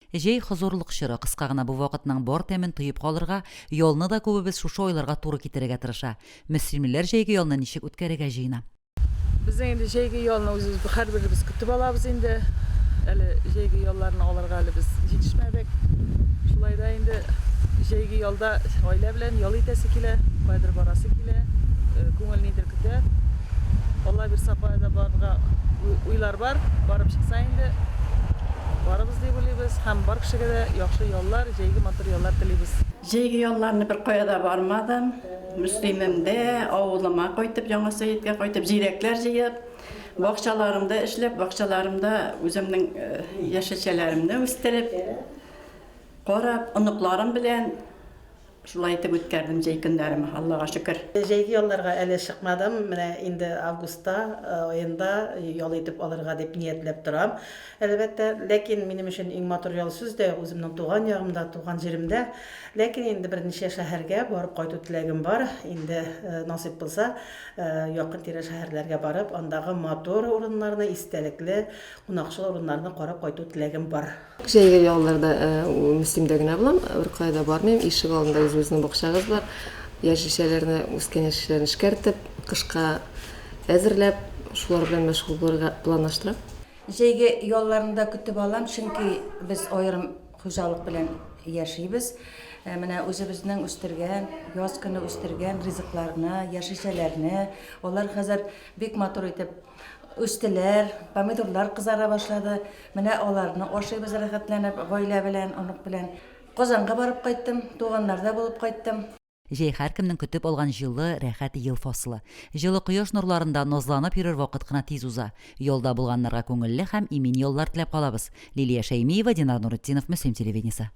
Җәй, хозурлык чоры, кыска гына бу вакытның бар тәмен тоеп калырга, ялны да күбебез шушы айларга туры китерергә тырыша. Мөслимлеләр җәйге ялны ничек үткәрергә җыена? Безнең инде җәйге ялны үзебез һәрберебез көтеп алабыз инде. Әле җәйге ялларны алырга әле без җитешмәдек. Шулай да инде җәйге ялда гаилә белән ял итәсе килә, каядыр барасы килә, э, күңел нидер көтә. Алла бирса, кая да барырга уйлар бар, барып чыкса инде. Барыбыз дип уйлыйбыз һәм бар кешегә дә яхшы яллар, җәйге матур яллар телибез. Җәйге ялларны беркая да бармадым. Мөслимемдә, авылыма кайтып, Яңа Сәеткә кайтып, җиләкләр җыеп, бакчаларымда эшләп, бакчаларымда үземнең яшелчәләремне үстереп, карап, оныкларым белән. Шулай итеп үткәрдем җәй көннәремә, Аллага шөкер. Җәйге ялларга әле чыкмадым, менә инде августта аенда ял итеп алырга дип ниятләп торам. Әлбәттә, ләкин минем өчен иң матур ял сүз дә үземнең туган ягымда, туган җиремдә. Ләкин инде берничә шәһәргә барып кайту теләгем бар. Инде насыйп булса, якын-тирә шәһәрләргә барып, андагы матур урыннарны, истәлекле, кунакчыл урыннарны карап кайту теләгем бар. Җәйге ялларда Мөслимдә генә булам, беркая да бармыйм. Ишек алдында үзебезнең бакчабыз бар. Яшелчәләрне, үскән яшелчәләрне эшкәртеп, кышка әзерләп, шулар белән мәшгуль булырга планлаштырам. Җәйге ялларны да көтеп алам, чөнки без аерым хуҗалык белән яшибез. Менә үзебезнең үстергән, яз көне үстергән ризыкларны, яшелчәләрне, алар хәзер бик матур итеп, Үстеләр, помидорлар кызара башлады. Менә аларны ашыйбыз рәхәтләнеп, гаилә белән, онык белән. Казанга барып кайттым, туганнарда булып кайттым. Җәй һәркемнең көтеп алган җылы, рәхәт ел фасылы. Җылы кояш нурларында назланып йөрер вакыт кына тиз уза. Ялда булганнарга күңелле һәм имин яллар теләп калабыз. Лилия Шәймиева, Динар Нуретдинов, Мөслим телевидениесе.